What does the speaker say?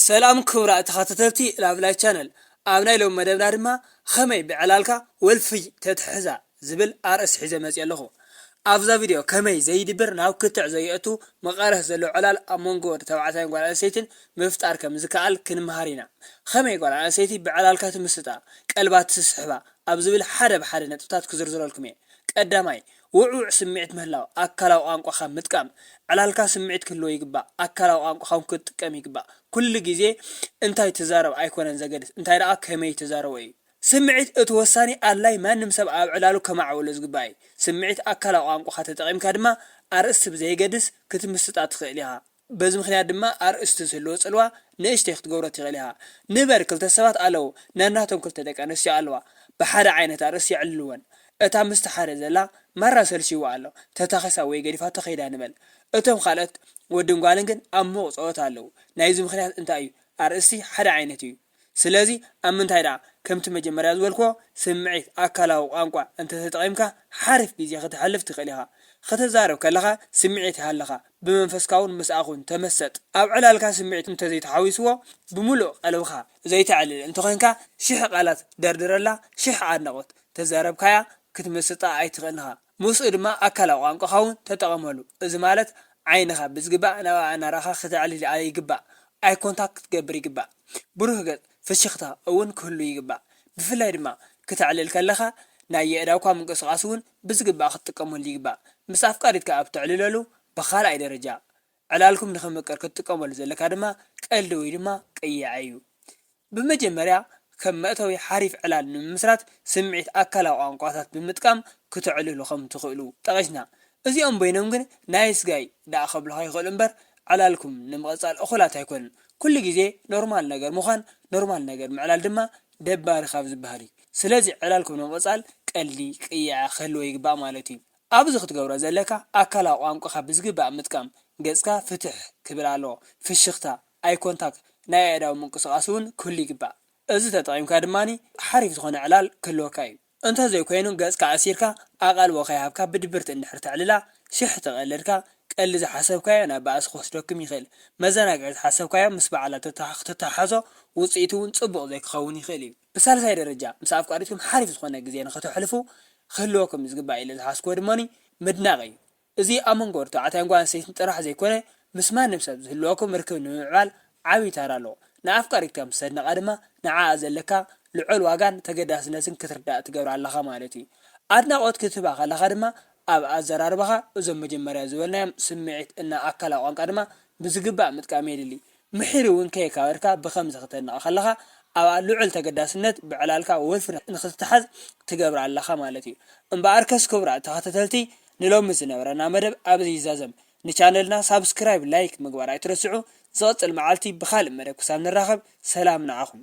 ሰላም ክብራት ተኸታተልቲ ላቭላይ ቻነል ኣብ ናይ ሎሚ መደብና ድማ ኸመይ ብዕላልካ ወልፍይ ተትሕዛ ዝብል ኣርእስት ሒዘ መጽየ ኣለኹ ኣብዛ ቪድዮ ከመይ ዘይድብር ናብ ክትዕ ዘየእቱ መቐረት ዘለዎ ዕላል ኣብ መንጎ ወድ ተባዕታይን ጓል ኣንስተይትን ምፍጣር ከም ዝከኣል ክንምሃር ኢና ኸመይ ጓል ኣንስተይቲ ብዕላልካ ትምስጣ ቀልባ ትስሕባ ኣብ ዝብል ሓደ ብሓደ ነጥብታት ክዝርዝረልኩም እየ ቀዳማይ ውዕዉዕ ስምዒት ምህላው፣ ኣካላዊ ቋንቋኻ ምጥቃም፣ ዕላልካ ስምዒት ክህልዎ ይግባእ፣ ኣካላዊ ቋንቋኻ ውን ክትጥቀም ይግባእ። ኩሉ ግዜ እንታይ ትዛረብ ኣይኮነን ዘገድስ፣ እንታይ ደኣ ከመይ ትዛረቦ እዩ። ስምዒት እቲ ወሳኒ ኣድላይ ማንም ሰብ ኣብ ዕላሉ ከማዕብሎ ዝግባእ እዩ። ስምዒት ኣካላዊ ቋንቋኻ ተጠቒምካ ድማ ኣርእስቲ ብዘየገድስ ክትምስጣ ትኽእል ኢኻ። በዚ ምኽንያት ድማ ኣርእስቲ ዝህልዎ ጽልዋ ንእሽተይ ክትገብሮ ትኽእል ኢኻ። ንበል ክልተ ሰባት ኣለዉ፣ ነናቶም ክልተ ደቂ ኣንስትዮ ኣለዋ። ብሓደ ዓይነት ኣርእስቲ የዕልልወን። እታ ምስቲ ሓደ ዘላ ማራ ሰልችይዋ ኣሎ፣ ተታኺሳ ወይ ገዲፋቶ ከይዳ ንበል። እቶም ካልኦት ወድን ጓልን ግን ኣብ ምዉቕ ጸወታ ኣለዉ። ናይዚ ምኽንያት እንታይ እዩ? ኣርእስቲ ሓደ ዓይነት እዩ። ስለዚ ኣብ ምንታይ ደኣ ከምቲ መጀመርያ ዝበልክዎ ስምዒት ኣካላዊ ቋንቋ እንተ ተጠቒምካ ሓሪፍ ግዜ ከተሕልፍ ትኽእል ኢኻ። ኽትዛረብ ከለኻ ስምዒት ይሃልኻ፣ ብመንፈስካውን ምስኣኹን ተመሰጥ። ኣብ ዕላልካ ስምዒት እንተ ዘይተሓዊስዎ ብምሉእ ቀልብኻ ዘይተዕልል እንተ ዄንካ ሽሕ ቃላት ደርድረላ ሽሕ ኣድናቖት ተዛረብካያ ክትምስጣ ኣይትኽእልን ኢኻ። ምስኡ ድማ ኣካላዊ ቋንቋኻ ውን ተጠቐመሉ። እዚ ማለት ዓይንኻ ብዝግባእ ናብ ኣእናራኻ ክተዕልል ኣይግባእ፣ ኣይ ኮንታክት ክትገብር ይግባእ። ብሩህ ገጽ፣ ፍሽኽታ፣ እውን ክህሉ ይግባእ። ብፍላይ ድማ ክተዕልል ከለኻ ናይ የእዳውካ ምንቅስቓስ ውን ብዝግባእ ክትጥቀመሉ ይግባእ። ምስ ኣፍቃሪትካ ኣብ ተዕልለሉ ብኻልኣይ ደረጃ ዕላልኩም ንኽምቅር ክትጥቀመሉ ዘለካ ድማ ቀልዲ ወይ ድማ ቅያዕ እዩ። ብመጀመርያ ከም መእተዊ ሓሪፍ ዕላል ንምምስራት ስምዒት ኣካላዊ ቋንቋታት ብምጥቃም ክተዕልሉ ከም ትኽእሉ ጠቒስና። እዚኦም በይኖም ግን ናይስ ጋይ ደኣ ከብሉኻ ይኽእሉ እምበር ዕላልኩም ንምቕጻል እኹላት ኣይኮኑን። ኩሉ ግዜ ኖርማል ነገር ምዃን ኖርማል ነገር ምዕላል ድማ ደባሪ ካብ ዝበሃል እዩ። ስለዚ ዕላልኩም ንምቕጻል ቀልዲ፣ ቅያዕ፣ ክህልዎ ይግባእ ማለት እዩ። ኣብዚ ክትገብሮ ዘለካ ኣካላዊ ቋንቋኻ ብዝግባእ ምጥቃም፣ ገጽካ ፍትሕ ክብል ኣለዎ፣ ፍሽኽታ፣ ኣይ ኮንታክ፣ ናይ ኣእዳው ምንቅስቓስ ውን ክህሉ ይግባእ። እዚ ተጠቒምካ ድማ ሓሪፍ ዝኾነ ዕላል ክህልወካ እዩ። እንተዘይኮይኑ ገጽካ ኣሲርካ ኣቓልቦ ከይሃብካ ብድብርቲ እንድሕር ተዕልላ፣ ሽሕ ተቐልድካ፣ ቀልዲ ዝሓሰብካዮ ናብ ባእሲ ክወስደኩም ይኽእል። መዘናግዒ ዝሓሰብካዮ ምስ ባዕላ ተተሓሕዞ ውጽኢቱ ውን ጽቡቕ ዘይክኸውን ይኽእል እዩ። ብሳልሳይ ደረጃ ምስ ኣፍቃሪትኩም ሓሪፍ ዝኾነ ግዜ ንኸተሕልፉ ክህልወኩም ዝግባእ ኢለ ዝሓዝኩዎ ድማኒ ምድናቕ እዩ። እዚ ኣብ መንጎ ተባዕታይን ጓል ኣንስተይትን ጥራሕ ዘይኮነ ምስ ማንም ሰብ ዝህልወኩም ርክብ ንምምዕባል ዓብይ ታራ ኣለዎ። ንኣፍቃሪትካ ምስ ተድንቓ ድማ ንዓኣ ዘለካ ልዑል ዋጋን ተገዳስነትን ክትርዳእ ትገብራ ኣለኻ ማለት እዩ። ኣድናቖት ክትህባ ከለኻ ድማ ኣብ ኣዘራርባኻ እዞም መጀመርያ ዝበልናዮም ስምዒት እና ኣካላዊ ቋንቃ ድማ ብዝግባእ ምጥቃም የድሊ። ምሒር እውን ከየካበርካ ብኸምዚ ክተድንቐ ከለኻ ኣብኣ ልዑል ተገዳስነት ብዕላልካ ወፍሪ ንኽትተሓዝ ትገብራ ኣለኻ ማለት እዩ። እምበኣርከስ ክቡራት ተኸታተልቲ ንሎሚ ዝነበረና መደብ ኣብዚ ይዛዘም። ንቻነልና ሳብስክራይብ ላይክ ምግባር ኣይትረስዑ። ዝቕጽል መዓልቲ ብኻልእ መደብ ክሳብ ንራኸብ ሰላም ንዓኹም።